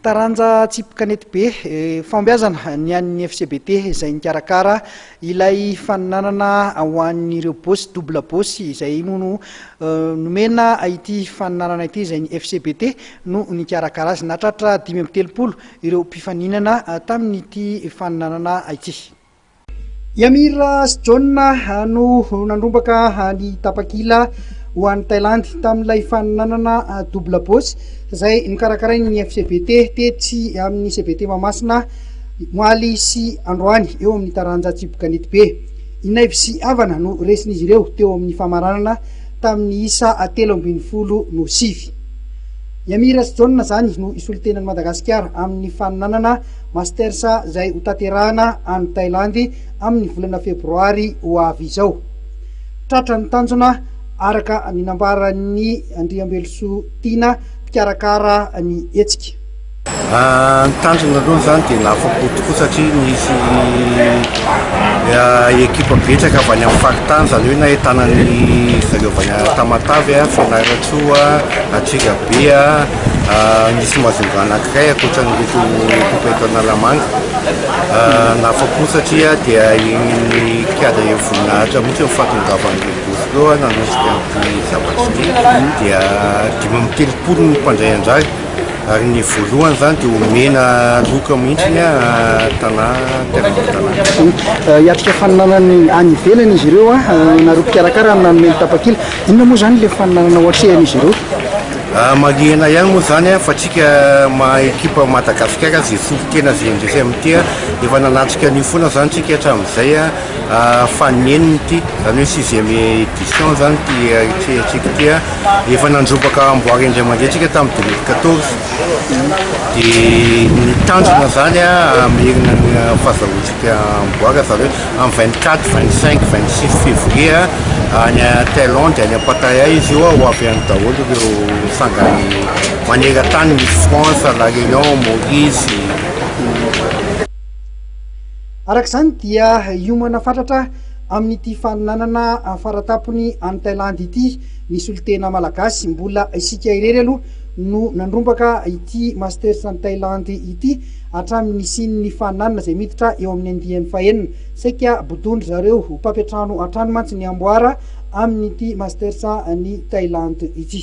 Taranja tsipy kanety be fahombiazana ny an'ny FCBT izay nikarakara ilay faninanana ho an'ireo bosy double bosy izay moa no nomena ity faninanana ity izay ny FCBT no nikarakara azy. Nahatratra dimy amby telopolo ireo mpifaninana tamin'ity faninanana ity. I Amir sy John no nandrombaka ny tapakila ho an'i Thailandy tamin'ilay fanananana double boss izay nokarakarain'ny FCBT tetsy amin'ny CBT Mahamasina omaly sy androany eo amin'ny taranja Tsipy Kanetibe. Inaivo sy havana no resin'izy ireo teo amin'ny famaranana tamin'ny isa telo ambin'ny folo no sivy. I Amir sy John izany no hisolo tena an'i Madagasikara amin'ny fanananana Masters izay hotanterahana any Thailandy amin'ny volana febroary ho avy izao. Tratra ny tanjona araka ny nambaran'ny Andriambelosoa Tiana, mpikarakara ny hetsika. Ah, ny tanjona aloha izany dia nahafapo tokoa satria nisy ah, ekipa betsaka avy any amin'ny faritany, izany hoe nahitana ny zareo avy any Tamatave, Fianarantsoa, Antsirabe, Nisy mazomba anankiray ankoatra an'ireto tonta eto Analamanga nafa-po satria dia iny kiada eo voninahitra mihitsy ny fahatongavan'ireo bosy ireo nanosika an'ity zavatra ity dia dimy amby telopolo ny mpandray anjara ary ny voalohany izany dia omena loka mihitsy ny tanà tena tanà. Hiatrika faninanana any any ivelany izy ireo, nareo mpikarakara nanome ny tapakila. Inona moa izany ilay faninanana ho atrehan'izy ireo? Amalihena ihany moa izany fa tsika maha ekipa Madagasikara izay fofonkena izay indrisy amin ity efa nanatrika an'io foana izany tsika hatramin'izay faninenina ity izany hoe sixième édition izany ity ahitrihatsika ity efa nandrobaka amboara indray mandeha tsika tamin'ny deux mille quatorze dia ny tanjona izany hamerina ny fahazahoantsika dia mivoaka zareo amin'ny vingt quatre, vingt cinq, vingt six février any Thaïlande any Pattaya izy io ho avy any daholo ireo sangany maneran-tany misy France, La Réunion, Maurice. Araka izany dia hiomana fatratra amin'ity fanolanana faratampony any Thailandy ity ny solontena malagasy. Mbola isika irery aloha no nandrombaka ity Masters any Thailandy ity. Hatramin'ny nisian'ny nifaninanana izay miditra eo amin'ny andiany fahenina, saika bodon-dry zareo ho mpampiantrano hatrany mantsy ny amboara amin'ity Masters an'i Thailand ity.